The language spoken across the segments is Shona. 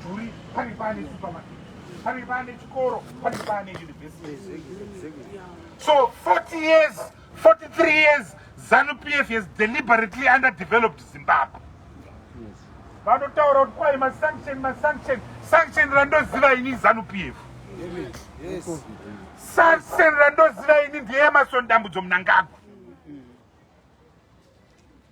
mudhuri pane pane supermarket pane pane chikoro pane pane university so 40 years 43 years zanu pf has deliberately underdeveloped zimbabwe vanotaura kuti kwai masanction masanction sanction randoziva ini zanu pf sanction randoziva ini ndeyemason dambudzo munangagwa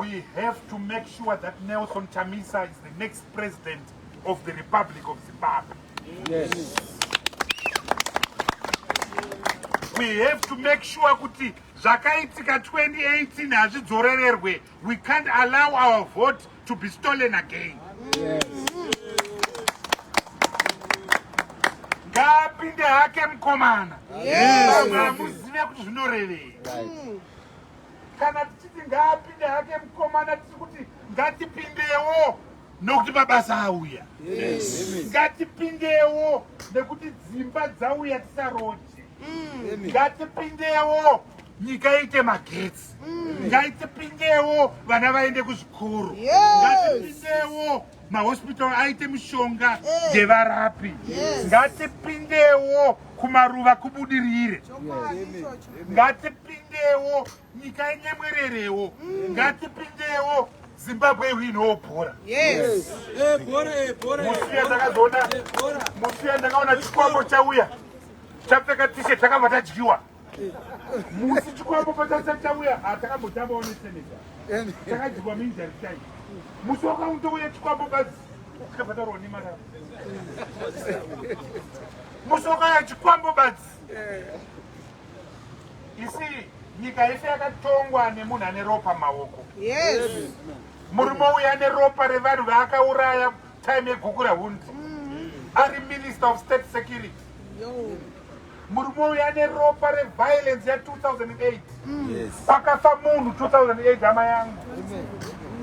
We have to make sure that Nelson Chamisa is the next president of the Republic of Zimbabwe. Yes. We have to make sure kuti zvakaitika 2018 hazvidzorererwe. We can't allow our vote to be stolen again ngaapinde hake mukomana amuzive kuti zvinorevei kana tichiti ngaapinde hake mukomana tiri kuti ngatipindewo nokuti mabasa auya ngatipindewo nekuti dzimba dzauya tisaroje ngatipindewo nyika iite magetsi ngaitipindewo vana vaende kuzvikoro ngatipindewo mahospital aite mishonga yevarapi ngatipindewo kumaruva kubudirire ngatipindewo nyika yenyemwererewo mm. ngatipindewo zimbabwe ihu inowo bhora musiya takazoona musiya ndakaona chikwambo chauya chapfeka tishe takabva tadyiwa musi chikwambo patasati tauya hatakambotambawo neseneja takajigwa minjari chai musi wakautouya chikwambo bazi tikabhadharwa nemari avo musi wakauya chikwambo bazi isi nyika yese yakatongwa nemunhu ane ropa maoko murume uya ane ropa revanhu vaakauraya time yegukura hundi mm-hmm. ari minister of state security Murume uyu ane ropa reviolence ya 2008 pakafa munhu 2008 hama yangu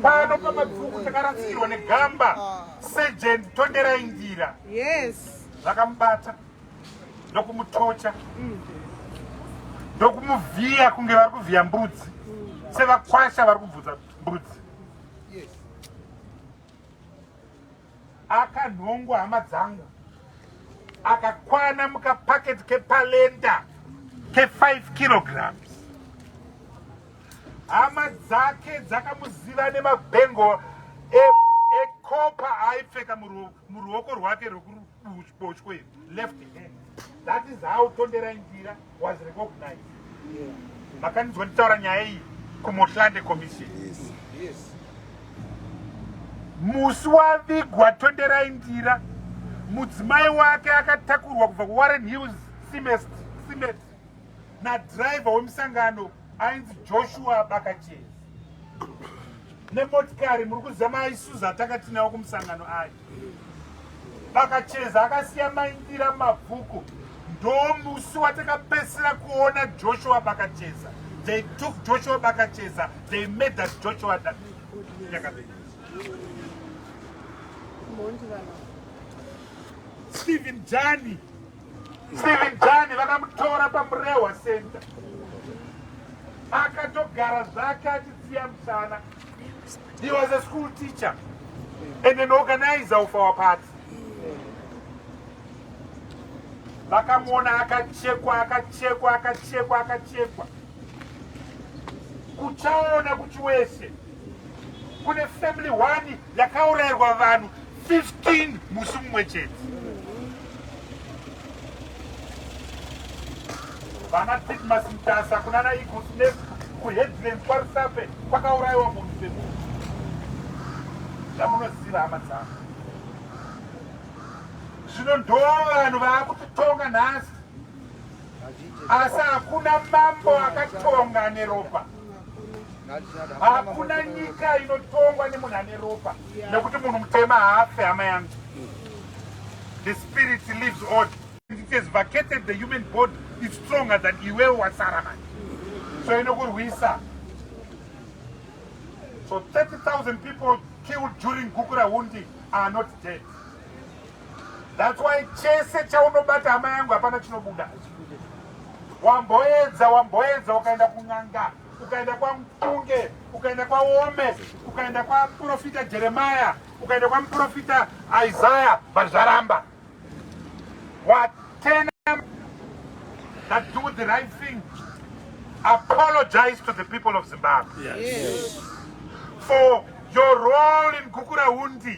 pano pamabvuku takarasikirwa negamba ah. sergent tonderai njira zvakamubata ndokumutocha mm. ndokumuvhiya kunge vari kuvhiya mbudzi mm. sevakwasha vari kubvudza mbudzi Akanhongwa hama dzangu akakwana mukapaketi kepalenda ke5 kilograms hama dzake dzakamuziva nemabengo ekopa e aipfeka muruoko rwake rwekuruku Bochwe left hand. That is how Tondera Indira was recognized. Yeah. Makanizwa nditaura nyaya iyi kuMotlande Commission. Yes. Yes. Musi wavigwa Tondera Indira mudzimai wake akatakurwa kubva kuWarren Hills Cement na driver wemusangano ainzi joshua bakachezi nemotikari muri kuziva maisuza atanga tinawo kumusangano ayo bakacheza akasiya maindira mabvuku ndomusi watakapesera kuona joshua bakacheza they took joshua bakacheza they made that joshua that stephen jani Steven Jani vakamutora paMurehwa Center akatogara zvake achitsiya musana. He was a school teacher and an organizer of our party. Vakamuona akachekwa akachekwa akachekwa akachekwa kuchaona kuchiwese kune family one yakaurairwa vanhu 15 musi mumwe chete vana titmas mtasa kunana eagles ne kuheadland kwarusape kwakaurayiwa munhu semunhu zvamunoziva hama dzangu zvino ndo vanhu vaakutitonga nhasi Asi hakuna mambo akatonga neropa. Hakuna nyika inotongwa nemunhu ane ropa nekuti munhu mutema haafe hama yangu. The spirit lives on. It has vacated the human body is stronger than iwe wasara man. So inokurwisa. So 30,000 people killed during Gukura Hundi are not dead. That's why chese chaunobata hama yangu hapana chinobuda. Wamboedza, wamboedza ukaenda kun'anga, ukaenda kwaMpunge, ukaenda kwaOme, ukaenda kwaprofita Jeremiah, ukaenda kwamuprofita Isaiah, but zvaramba. What ten that do the right thing apologize to the people of Zimbabwe. Yes. yes. For your role in Gukura Undi.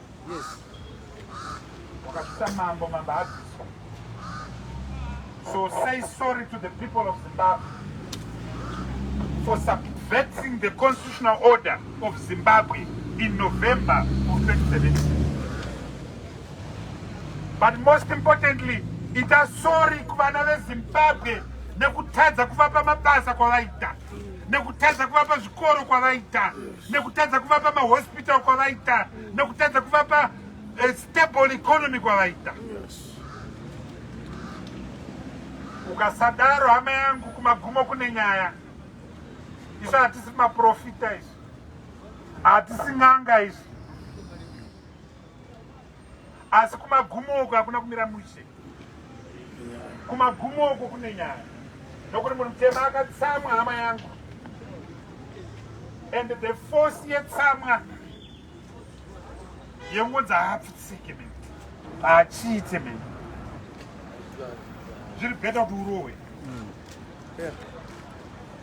Yes. Wakasvitsa mambo, mambo abviswa. So say sorry to the people of Zimbabwe for subverting the constitutional order of Zimbabwe in November of 2017. But most importantly, ita sorry kuvana vezimbabwe nekutadza kuvapa mabasa kwavaita nekutadza kuvapa zvikoro kwavaita nekutadza kuvapa mahospital kwavaita nekutadza kuvapa eh, stable economy kwavaita ukasadaro hama yangu kumagumo kune nyaya isu hatisi maprofita isu hatisi n'anga isu asi kumagumo uko hakuna kumira mushe kumagumo uko kune nyaya nokuti munhu mutema akatsamwa hama yangu and the force yetsamwa yengonzi haapfutsike mene haachiite mene zviri beta kuti urohwe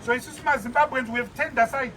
so isusu mazimbabweans we have turned aside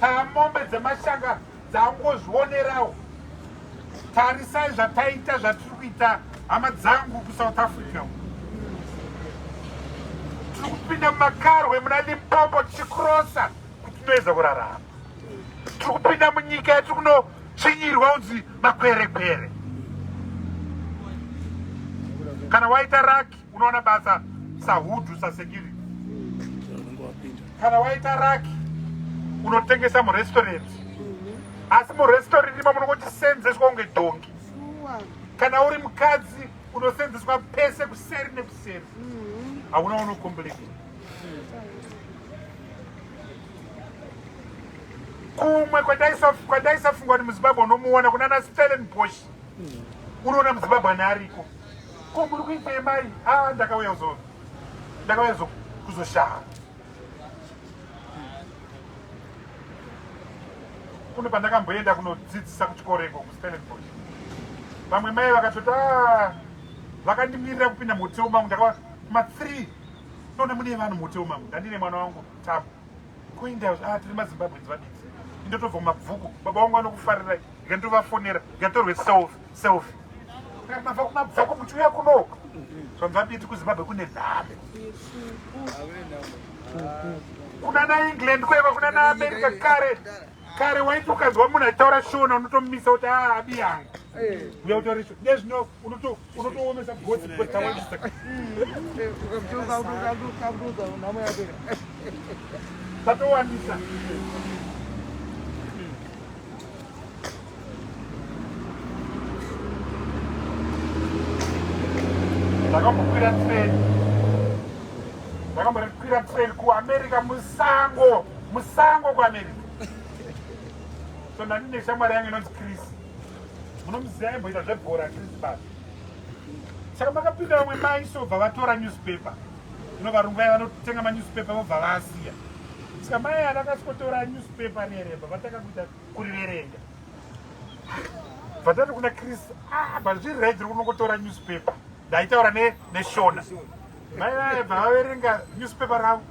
pamombe dzemashanga dzangozvionerawo tarisai zvataita zvatiri kuita hama dzangu kusouth africa tiri kupinda mumakarwe muna limpopo tichikrosa kuti tinoedza kurarama tiri kupinda munyika yatiri kunotsvinyirwa unzi makwerekwere kana waita raki unoona basa sahudhu sasekiri kana waita raki unotengesa murestorant asi murestorant imomo unongochisenzeswa kunge dhongi kana uri mukadzi unosenzeswa pese kuseri nekuseri hauna unokompleka kumwe kwandaisafunga kuti muzimbabwe unomuona kunana stellen bosh unoona muzimbabwe ane ariko Ko muri kuitei mai? Ah, ndakauya kuzo ndakauya kuzoshaya. Kune pandakamboenda kunodzidzisa kuchikoro iko kuStellenbosch. Vamwe mai vakatoti ah, vakandimirira kupinda muhotero mangu ndakava ma 3 ndone mune vanhu muhotero mangu ndandine mwana wangu Tabu. Kuinda ah, tiri maZimbabweans vadiki. Ndotobva mabvuku. Baba wangu vanokufarirai. Ngandovafonera. Ngatorwe selfie. Selfie. Mabva kumabva kumuchuya kunoko. Zvamva biti kuZimbabwe kune nhame. Kuna na England kweva kuna na America kare. Kare waiti ukanzwa munhu achitaura shona unotomumisa kuti ah abiyanga. Uya utori shona. Nezvino unoto unotoomesa gotsi gotsi tawandisa. Ukamchoka ukamchoka ukamchoka unamo yake. Tatowandisa. ndakambokwira treni ndakambokwira treni kuamerica musango musango kuamerica so ndandine shamwari yange inonzi chris munomuziva aimboita zvebhora chris bas saka makapinda vamwe mai sobva vatora newspaper Zvino varungu vaya vanotenga manewspaper vobva vaasiya. Saka mai ava vakasikotora newspaper nereba vatanga kuita kuriverenga. Vatati kuna Chris, ah, but zviri right rikuno kutora newspaper. Ndaitaura ne neshona. Mai vaya bva vaverenga newspaper ravo.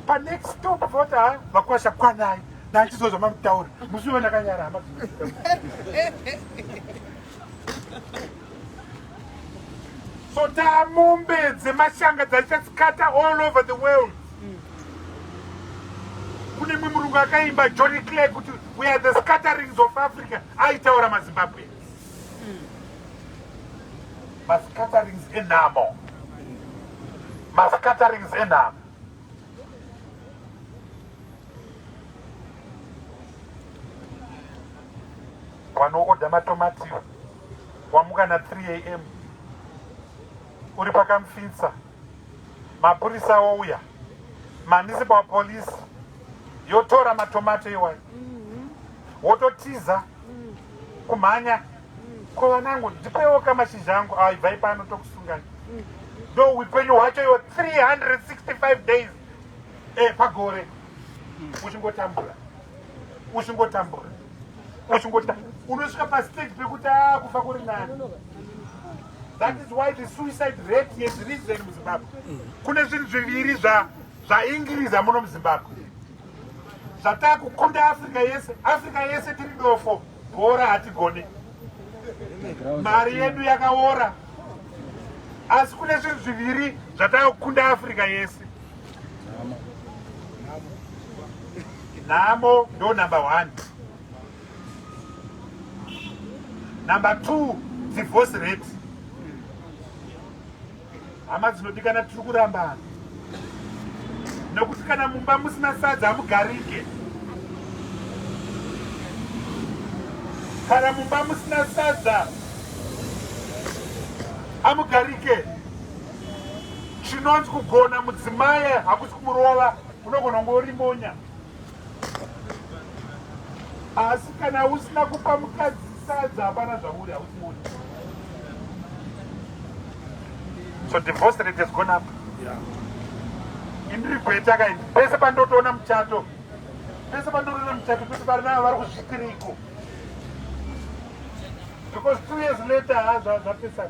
Pa next stop voti ha ah, vakwasha kwanai. Ndachizozva mamutaura. Musi wandakanyara hama. so taa mombe dzemashanga dzaichasikata all over the world kune mwe murungu akaimba johny clay kuti we are the scatterings of africa aitaura mazimbabwe mascatterings enhamo mascatterings enhamo Wanoodha matomatio wamuka na 3 am uri pakamfitsa mapurisa ouya municipal police yotora matomato iwayo mhm. wototiza mm. kumhanya mm. ko vanangu ndipewo ka mashizha angu aibvai ah, pano tokusungani mm. ndo upenyu hwacho iwo 365 days eh, pagore uchingotambura uchingotambura uchingota unosvika pastage pekuti ah, kufa kuri nani that is why the suicide rate yezvirizei muzimbabwe kune zvinhu zviviri zvaingiriza muno muzimbabwe zvataa kukunda africa yese africa yese tiri dofo Kuora hatigone, mari yedu yakaora, asi kune zvinhu zviviri zvatakukunda Africa yese. Nhamo ndo number one, number two divorce rate Hama dzinodikana tiri kurambana nokuti kana mumba musina sadza hamugarike. Kana mumba musina sadza hamugarike. Chinonzi kugona mudzimai hakusi kumurova, unogona kunge uri monya. asi kana usina kupa mukadzi sadza hapana zvauri hausi moni so divorce rate has gone up indiri gweta kaini pese pandotoona muchato pese pandotoona muchato kuti vari navo vari kuzvitiriko because two years later hazva zvapesana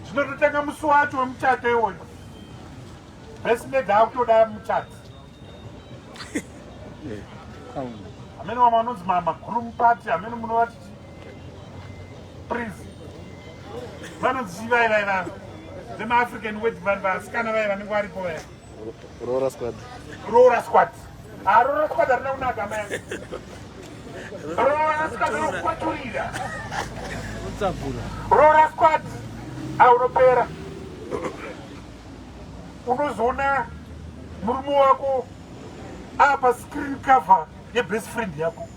zvinototanga musi wacho wemuchato iwoyo Best lady akutoda muchadzi. Amene wamwe anonzi mama groom party amene munovati prince. Vanonzi chivai vai vanhu. Vema African wedding vanhu vasikana vai vanenge varipo vaya. Roora squad. Roora squad. Ah roora squad arina kunaka mai. Roora squad rokwaturira. Utsabura. Roora squad. Aunopera. unozoona murume wako apa screen cover yebest friend yako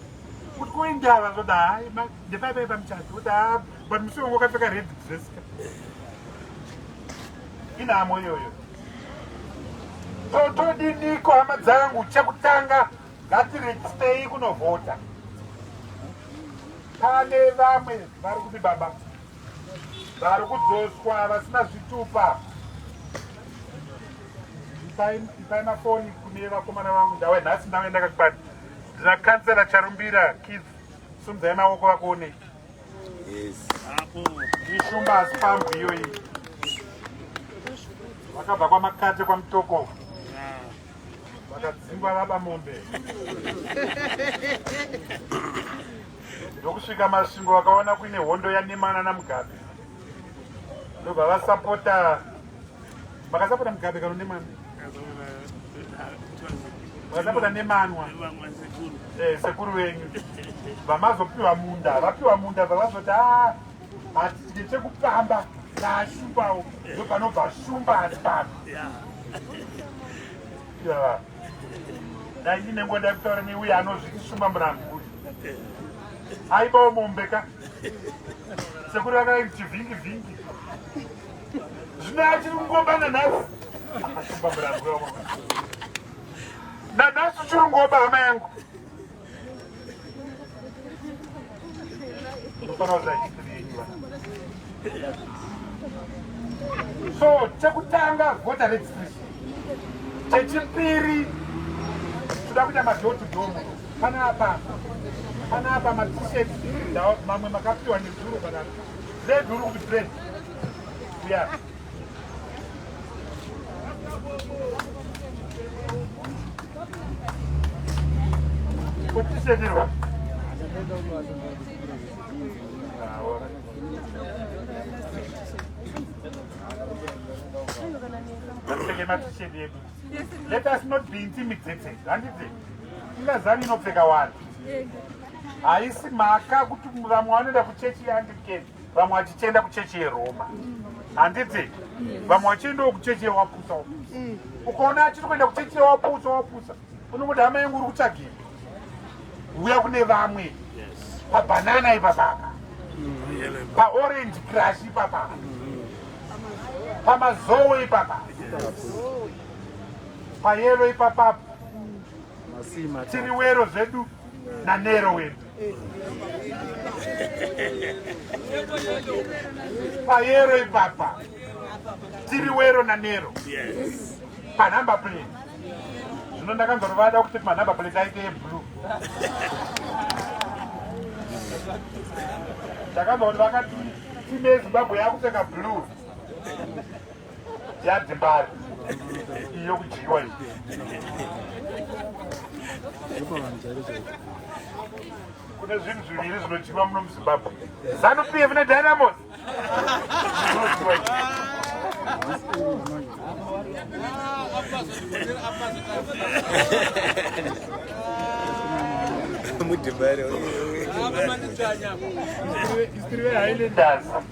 kuti koindava zvoda hai ndepaipai pamuchato da but musi wangu wakapfeka red dress inhamo iyoyo totodiniko hama dzangu chekutanga ngatirejistei kunovhota pane vamwe vari kuti baba Vari kudzoswa vasina zvitupa. Ipai mafoni kune vakomana vangu ndawe nhasi ndave ndakakwani. Ndina kansela Charumbira kids sumdzai maoko vakuone. Yes. Ishumba hasi pambu iyoyi. Vakabva kwamakate kwamutoko. vakadzingwa vaba mombe ndokusvika masvingo vakaona kuine hondo yanemana namugabe ndobva vasapota vakasapota mugabe kano nemana vakasapota nemanwa eh, sekuru venyu vamazopiwa munda vapiwa munda vavazoti a ah, hatidye chekupamba naashumbawo ndopanobva shumba ari pano dai ine nguva dai kutaura neuye anozviti shumba murambi uyu aibawo mombe ka sekuri vakadai kuti vhingi vhingi zvino achiri kungobana nhasi ashumba murambi nanhasi uchiri kungoba hama yangu so chekutanga voter registration chechipiri toda kuita madhoti dhomo panapa panapa matishet mamwe makapiwa nezuro panapa zeduri kuti zed uya Let us not be intimidated. Handiti ingazavi inopfeka wani haisi mhaka kuti vamwe vanoenda kuchechi yeanglican vamwe vachichienda kuchechi yeroma handiti vamwe vachiendawo kuchechi yewapusa wapusa mm. ukaona achiri kuenda kuchechi yewapusa wapusa unongoti hama yangu uri kutsvagei uya kune vamwe pabhanana ipapaka paorange crash ipapaka pamazowe ipapa payelo ipapapo tiri wero zvedu nanero wedu payero ipapa tiri wero nanero panumber plate zvino ndakanzwa rovada kuti panumber plate aite yeblue ndakanzwa kuti vakati tinezimbabwe yakupfeka blue yadzimbari iyo kudyiwa iyi kune zvinhu zviviri zvinodyiwa muno muzimbabwe zanu p f nedynamos mudhibhari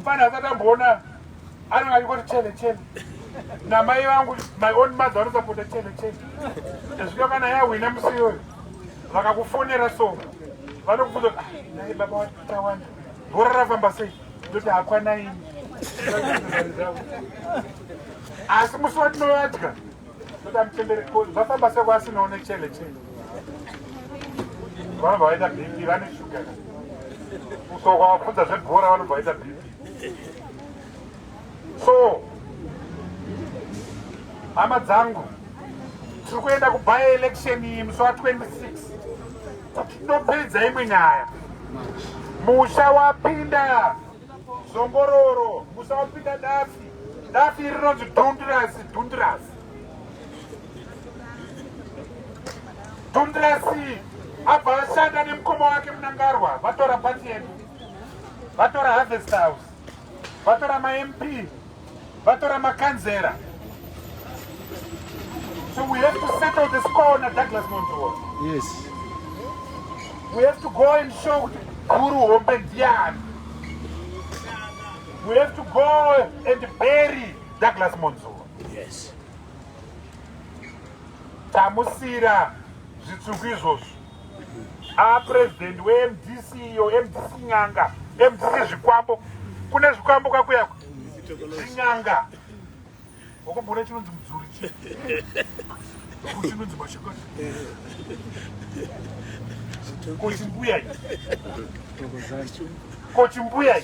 Mfana hasati amboona anenge achingoti chele chele namai vangu my own mother vanosapota chele chele zvino kana yahwina musi iyoyo vakakufonera so vanokubvunza kuti ah, nai baba watawanda bhora rafamba sei ndoti hakwanaini asi musi watinovatya Toda mchembere ko zvafamba seko asinawo nechele chele. Vanhu vaita BP vane shuga. Kusoko kwavapfudza zvebhora vanhu vaita BP. So hama dzangu tiri kuenda kubaya election iyi musi wa 26 kuti ndopedza imwe nyaya musha wapinda Zongororo musapinda dafi. Dafi rinonzi dhundirasi dhundirasi. Dhundirasi abva ashanda nemukoma wake munangarwa vatora pati yedu. Vatora harvest house. Vatora maMP. Bato ramakanzera. So we have to settle the score na Douglas Montour. Yes. We have to go and show kuti guru hombe ndiani. We have to go and bury Douglas Montour. Yes. Tamusira zvitsvuku izvozvo. a president wemdc iyo mdc nyanga mdc zvikwambo kune zvikwambo kwakuyako zvinyanga wakamboona chinonzi mudzuri chi chinonzi mashakani kochimbuya kochimbuya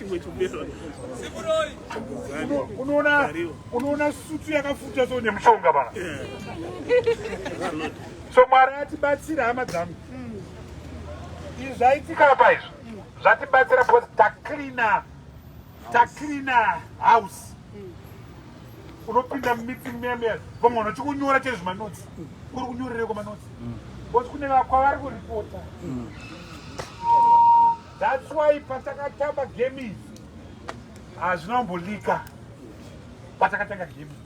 unoona sutu yakafuta so nemushonga pana so mwari atibatsira hama dzangu mm. izvi zvaitika apa izvo mm. zvatibatsira because tacleana tacleana house mm. unopinda mumeeting memeya vamwe vanhu vachikunyora chaizvo manotsi kuri kunyorereko manotsi because kune vakwavari kuripota that's why patakatamba game izi hazvina kumbolika patakatanga game izi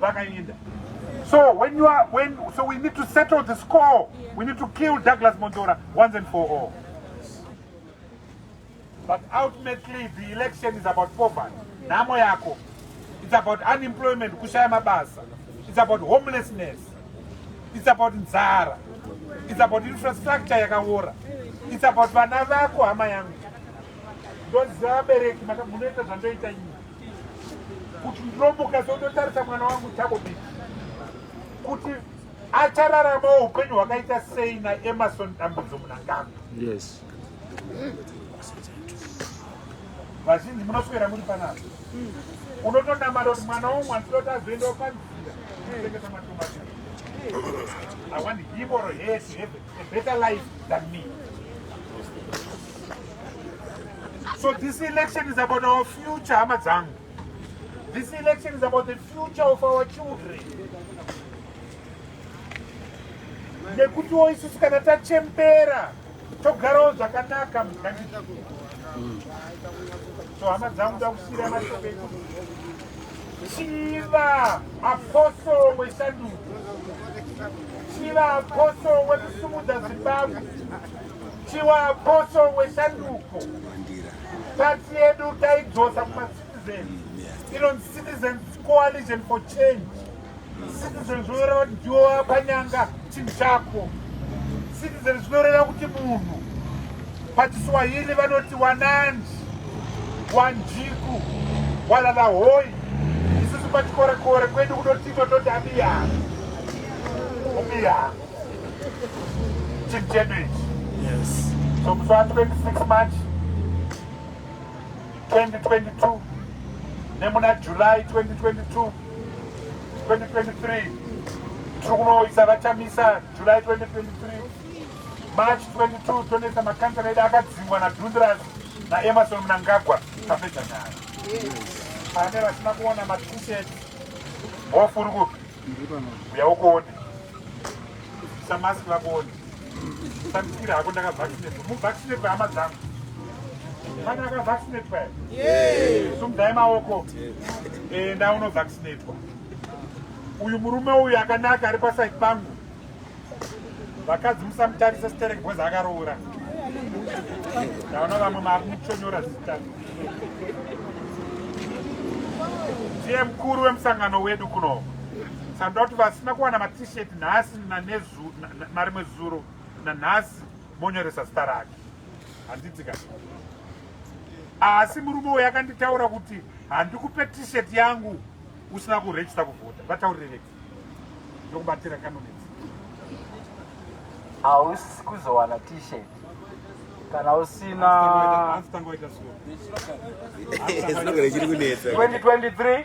vakaenda so when you are when so we need to settle the score we need to kill douglas mondora once and for all but ultimately the election is about poverty nhamo yako it's about unemployment kushaya mabasa it's about homelessness it's about nzara it's about infrastructure yakaora it's about vana vako hama yangu ndoziva vabereki munoita zvandoita nyika kuti ndinomuka so ndotarisa mwana wangu chakobiti kuti achararama upenyu hwakaita sei naemarson dambudzo munangano yes vazhinji munoswera muri panapa unotonamata kuti mwana womwe anditoti azoendawo panzira kuchengeta matomati i want him or her to heaven a better life than me. So this election is about our future, Amazang. This election is about the future of our children. nekutiwo isusu kana tachembera togarawo zvakanaka mugandii so hama dzangu dakusiyira mashoko ekuti Chiva apostle weshanduko. Chiva apostle wekusumudza Zimbabwe. Chiva apostle weshanduko. Pati yedu taidzosa kuma citizens. Inonzi Citizens Coalition for Change. Citizen zvinoreva kuti ndiwo wakanyanga chinhu chako. Citizen zvinoreva kuti munhu. PaChiswahili vanoti wananji, wanjiku, walala hoi. Isusu pachikorekore kwedu kunoti tototi abiyanga. Abiyanga. Chinhu chedu ichi. Yes. So musi wa 26 March 2022 nemuna July 2022 2023 tiri kunoisa vachamisa july 2023 march 22 tonoisa makansela edu akadzingwa nadundras naemerson munangagwa tapedza nyaya pane vasina kuona matishet hofuri kupi uya ukuone samask vakuone Sandikira hako ndakavaccinate. Mu vaccinate hama dzangu. Mwana aka vaccinate pa. Yes. Sumdai maoko. Eh nda uno vaccinate kwa. Uyu murume uyu akanaka ari pa side pangu. Vakadzi musamutarisa sterek boys akaroora. Ndaona vamwe mari muchonyora zita. Ndiye mkuru wemusangano wedu kuno. Sandoda kuti vasina kuwana ma t-shirt nhasi nanezu narimwe zuro nanhasi monyoresa zita rake handiti ka asi murume uyo akanditaura kuti handikupe t-shirt yangu usina kuregista kuvhota vataurirereki ndokubatira kanonetsi hausi kuzowana t-shirt kana usina 2023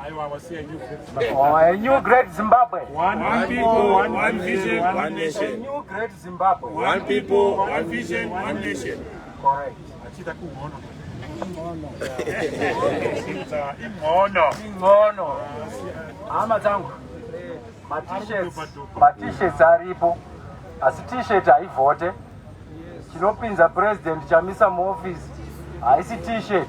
A new great Zimbabwe. One, one people, one, one vision, one, one nation. A new great Zimbabwe. One people, one vision, one nation. Correct. Achita kuhono. Ingono. Ingono. Ingono. Hama dzangu. Matishets, matishets aripo. Asi t-shirt haivhote. Chinopinza president chamisa muoffice haisi t-shirt.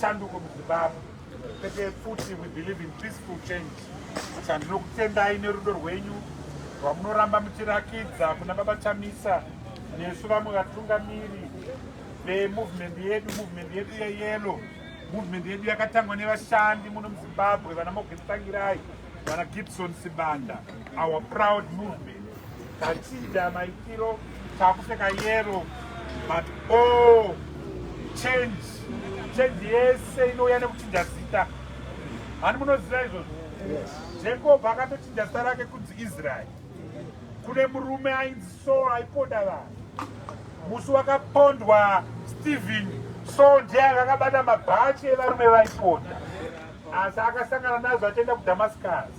Shanduko muZimbabwe kwete pfuti we believe in peaceful change chandinokutendai nerudo rwenyu rwamunoramba muchirakidza kuna baba chamisa nesu vamwe vatungamiri vemovement yedu movement yedu yeyelo movement yedu yakatangwa nevashandi muno muzimbabwe vana mogetsangirayi vana gibson sibanda our proud movement Tachida maitiro takupfeka yero but oh change change yese inouya nekuchinja zita hani munoziva izvozvo jacob akatochinja zita rake kunzi israeri kune murume ainzi so aiponda vanhu musi wakapondwa stephen so ndiye anga akabata mabhachi evarume vaiponda asi akasangana nazvo achienda kudamascus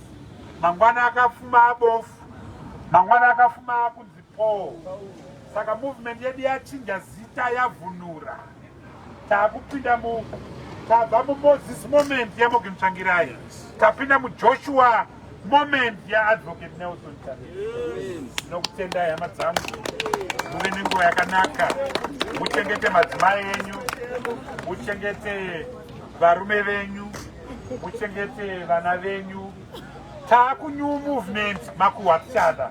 mangwana akafuma abofu Mangwana akafuma akunzi Paul. Saka movement yedu yachinja zita yavhunura. Takupinda mu tabva mu Moses moment ya Morgan Tsvangirai. Tapinda mu Joshua moment ya Advocate Nelson Chamisa. Nokutenda hama dzangu. Muve nenguva yakanaka. Muchengete madzimai enyu. Muchengete varume venyu. muchengete vana venyu taku new movement makuhwa tichada